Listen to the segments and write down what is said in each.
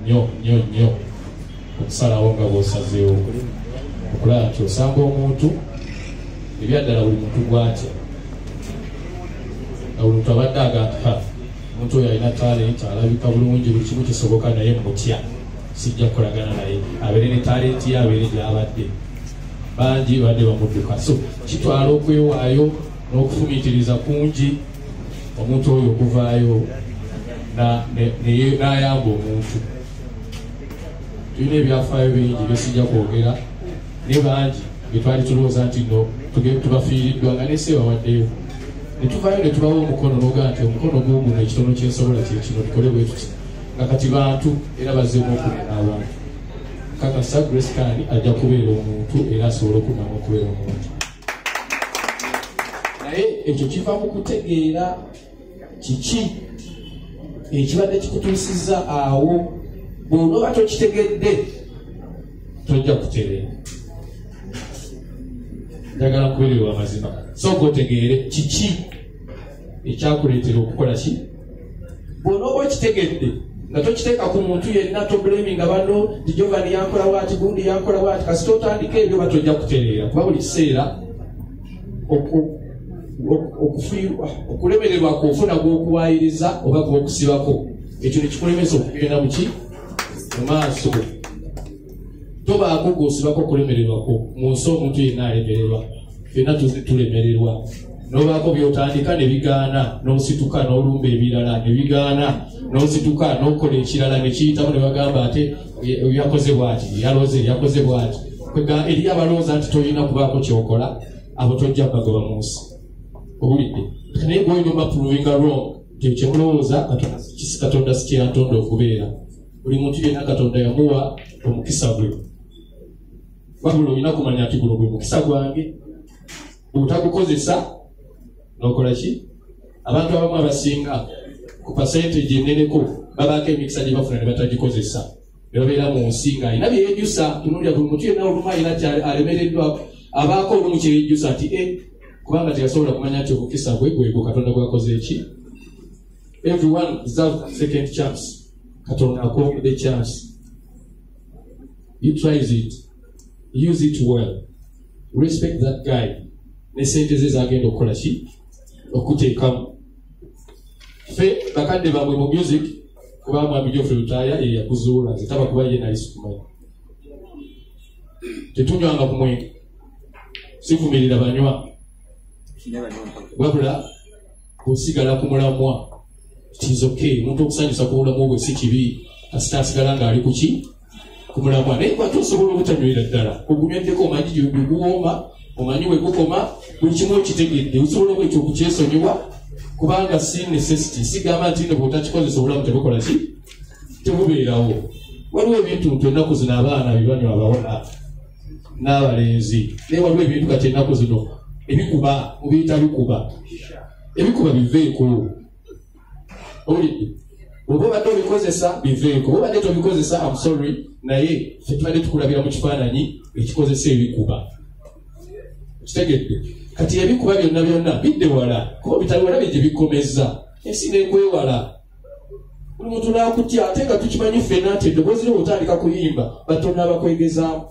nyo nyo nyo okusalawo nga bwosazeewo okulaba nti osanga omuntu ebyaddala buli muntu gwatya nga buli muntu abadde agamba omuntu oyo alina talenti alabika bulungi buli kimu kisoboka naye mutya sijja kukolagana naye abeere ne talenti ye abeere gyabadde bangi badde bamudduka so kitwala okwewaayo n'okufumitiriza kungi omuntu oyo okuvaayo n'ayamba omuntu tulina ebyafaayo bingi byesijja kwogera ne bangi byetwali tulowooza nti no tubafiiriddwa nga nesi ebawaddeyo netuvayo netubawo omukono noga nti omukono guguno ekitono kyensobola kyekino tukole bwetuti nga kati bantu era bazeemu okunena abantu kakasa grace kani ajja kubeera omuntu era asobola okudamu okubeera omuntu naye ekyo kiva mu kutegeera kiki ekibadde kikutuusiza awo bwonooba tokitegedde tojja kutereera njagala kubeererwa amazima sooka otegeere kiki ekyakuleetera okukola ki bwona oba okitegedde nga tokiteeka ku muntu yenna tobulemi nga bano tijovani yankola waati gundi yankola waati kasita otandika ebyo ba tojja kutereera kuba buli kiseera okufiirwa okulemererwa ku ofuna gw'okuwaayiriza oba gw'okusibako ekyo nekikulemesa okugenda muki mu maaso tobaako gwosibako kulemererwako mu nsi omuntu yenna alemererwa fenna tulemererwa nobaako byotandika nebigaana nosituka nolumba ebirala nebigaana nosituka nokola ekirala nekiyitamu nebagamba ate yakoze bwati yaloze yakoze bwati eri abalowooza nti tolina kubaako kyokola abo tojja bagoba mu nsi owulidde naye gwoyina obapuruvinga wrong nti ekyemulowooza katonda sikyeyatonda okubeera buli muntu yenna katonda yamuwa omukisa gwe wabula olina kumanya nti guno gwe mukisa gwange bwetagukozesa nokola ki abantu abamu abasinga ku pasente gyeneneko babaako emikisa gye bafuna ne batagikozesa ne babeera mu nsi nga alina byeyejjusa tunulira buli muntu yenna olumu alina kyalemereddwa abaako olumu kyeyejjusa nti e kubanga teyasobola kumanya nti omukisa gwe gwegwo katonda gwakoze eki everyone deserve second chance katonda akuwagudde chance utrise it use it well respect that guy ne sente ze zagenda okukola ki okuteekamu fe bakadde bamwe mu music kuba mwami jofe lutaaya ye yakuzuula nze taba kuba ye nali sikumanya tetunywanga ku mwenge sivumirira banywa wabula kusigala ku mulamwa kizoke omuntu okusanyusa ku bulamu bwe si kibi kasita asigala ng'ali ku ki ku mulamwa naye kwate osobola obutanywera ddala ogunywedeko omanyi gyebiguwooma omanyi wegukoma buli kimu okitegedde osobola obwekyo okukyesonyiwa kubanga si necessity sigamba nti no bwotakikozesa obulamu tebukola ki tebubeerawo waliwo ebintu nti ennaku zino abaana bibanywa abawona n'abalenzi naye waliwo ebintu kati ennaku zino ebikuba mubiyita bikuba ebikuba biveeko owulidde oba obadde obikozesa biveeko oba obadde tobikozesa amsorry naye fe tubadde tukulabira mu kifaananyi ekikozesa ebikuba kitegedde kati ebikuba byonna byonna bidde wala kuba bitali wala bye gye bikomeza ensi nekwewala buli muntu nakutya ate nga tukimanyi ffena nti eddoboozi lyo otandika kuyimba batonda abakwegezaamu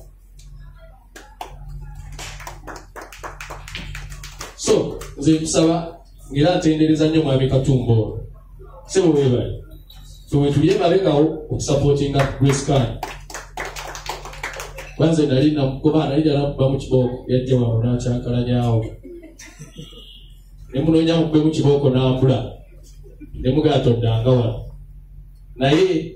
so nze nkusaba ngaera ntendereza nnyo mwami katumba ono sebo webale fewetuli emabegawo okusapootinga grace kan kwanze nali namugoba nali dalakuba mu kibooko yajja wano nakyankalanyawo nemunoonya mukube mu kibooko nambula nemugala toddanga wano naye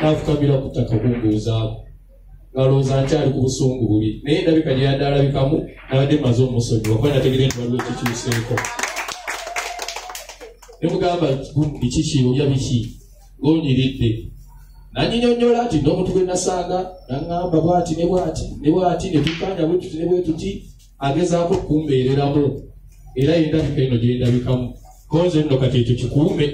nafukamira ku ttaka kumbuuzaako ngalowooza nkyali ku busungu buli naye ndabika gyeyadde alabikamu nabadde maze omusonyi wakuba nategere nti waliwo kikyuseeko nemugamba gundi kiki olya biki ngonyiridde nanyinyonyola nti n'omuntu gwe nasanga naŋamba bwati ne bwati ne bwati ne tukanya bwetuti ne bwetuti agezaako okumbeereramu era yendabika eno gyendabikamu konze nno kati ekyo kikuume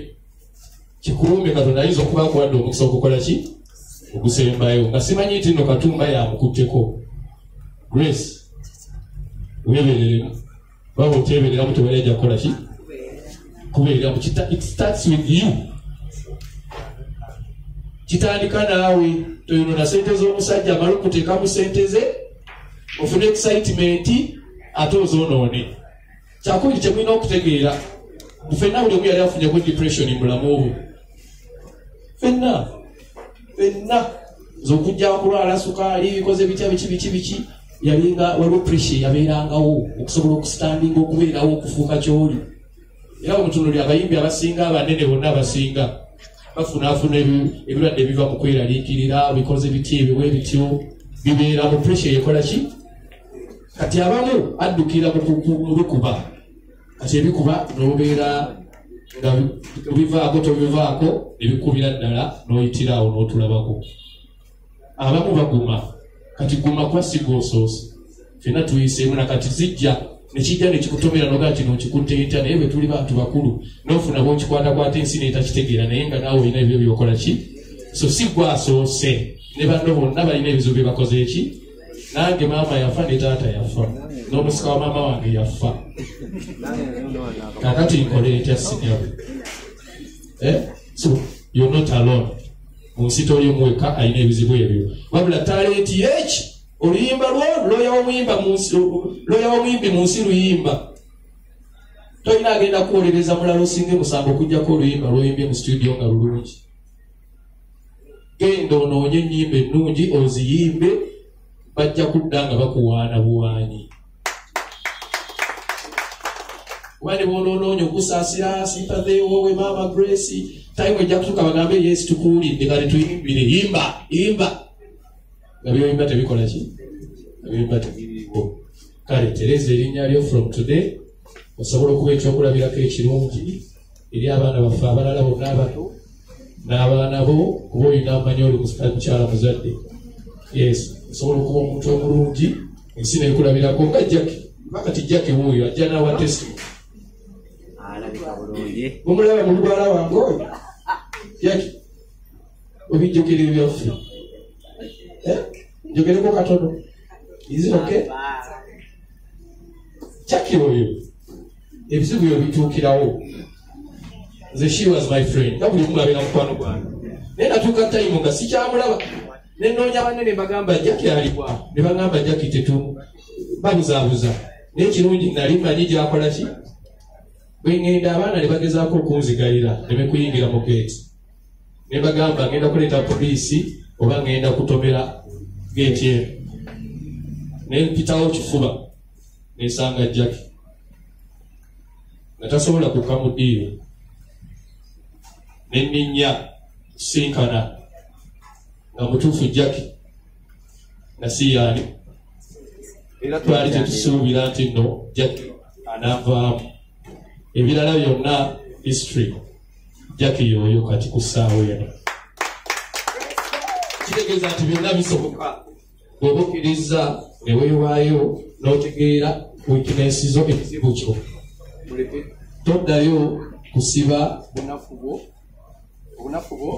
kikulumbe katonda ayinza okuba akuwadde omukisa okukola ki ogusembayo nga simanyi nti no katumba yamukutteko grace webereremu baba otebereramu tewali ajja kukola ki kubereramu it starts with you kitandika naawe toyonona sente z'omusajja amala okuteekamu sente ze ofune excitement ate ozonoone kyakubiri kyemulina okutegeera fenna buli omu yali afunyeko depression mubulamu bwe fenna fenna zokujja kulwala sukaali bikoze bitya biki biki biki yalinga waliwo pressure yabeerangawo okusobola okusitandinga okubeerawo okufuuka kyoli era omutunuli abayimbi abasinga abanene bonna abasinga bafunaafuna ebirwadde ebiva mu kweraliikirira bikoze bitya ebiwa ebityo bibeera mu pressure yekola ki kati abamu addukira mubikuba kati ebikuba nobeera nga obivaako tobivaako ebikubira ddala noyitiraawo notulabako abamu baguma kati guma kwasiga osoosi fena tuyiseemu nakati zijja nekijja nekikutomera noga kino nkikutte ntya naye bwe tuli bantu bakulu nofuna bwokikwatakwata ensi netakitegeera naye nga naawe olina ebyo byokola ki so si gwasoose ne banno bonna balina ebizibu byebakoze eki nange maama yafa ne taata yafa n'omusika wa maama wange yafa kakati nkole etya sinyabo eh? so you're not alone mu nsi toli muweka alina ebizibu ebyo wabula talenti yeki oluyimba lwo loya womuyimbi mu nsi luyimba tolina agenda kuwolereza mulala osinga emusango okujjako oluyimba lwoyimbye mu situdio nga lulungi genda onoonye ennyimba ennungi oziyimbe bajja kudda nga bakuwaana buwaanyi wali boonoonoonya okusaasira simpazeewo we maama grace time ejja kutuka bagambe yesu tukuwulidde kale tuyimbire yimba yimba nga byoyimba tebikola ki ebyoyimba tebiriwo kale tereza erinnya lyo from today osobola okuba ekyokulabirako ekirungi eri abaana baffe abalala bonna abato n'abaana bo kuba olina amanyi oli mukyala muzadde yes osobola okuba omuntu omulungi ensi nekulabirako nga jaki makati jaki wuuyo ajja nawa testi omulaba mu lugwala wange oyo jaki obijjukira ebyaffe eh? njogereko katono izi oke jaki oyo ebizibu byo bituukirawo nze she was my friend nga buli omu abeera mukwano gwange naye natuuka tayimu nga sikyamulaba nenoonya banne ne bagamba jaki aliwa ne bagamba jaki tetu babuzaabuza naye kirungi nali manyi gyakola ki bwengenda abaana ne bagezaako okunzigalira nemekuyingira mu geeti ne bagamba ngenda kuleeta poliisi oba ngenda kutomera geeti eno nempitawo kifuba nesanga jaki nga tasobola kukka mu diiro nenninya sinkana nga mutuufu jaki nasiyaani era twali tetusuubira nti no jaki anavaamu ebirala byonna history jaki yoyo kati ku ssaawa eno kitegeeza nti byonna bisoboka bwoba okkirizza ne weewaayo n'otegeera wikinensi zo ekizibu kyo muleke toddayo kusiba bunafu bwo obunafu bwo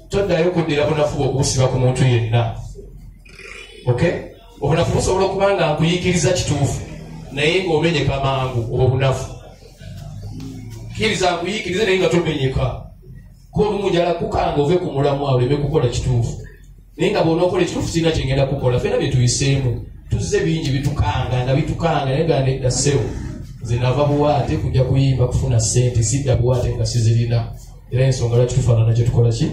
toddayo kuddira bunafu bwo okubusiba ku muntu yenna okay obunafu busobola okuba nga nkuyikiriza kituufu naye ng'omenyeka mangu obwo bunafu kkiriza nkuyikirize naye nga tomenyeka golumu njala kukanga ove ku mulamwa oleme kukola kituufu naye nga bwonaokola ekituufu kirina kyengenda kukola fena byetuyiseemu tuzze bingi bitukanga nga bitukanga naye ga nedda sewo nze nava buwaate kujja kuyimba kufuna sente sidda buwaate nga sizirina era ensonga lwaki tufaanana kyetukola ki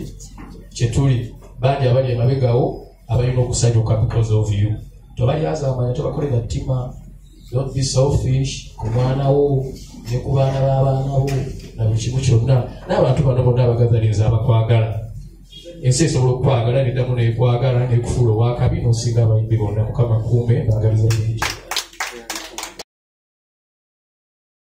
kyetuli bangi abali emabegawo abalina okusanyuka because of you tobalyazamanya tobakolera ttima don't be selfish ku mwana wo ne ku baana b'abaana bo na buli kimu kyonna n'abantu bano bonna abagazalinza abakwagala ensi esobola okukwagala neddamu nekwagala nekufuula owakabi nosinga abayimbi bonna mukama kuume bagaliza bingi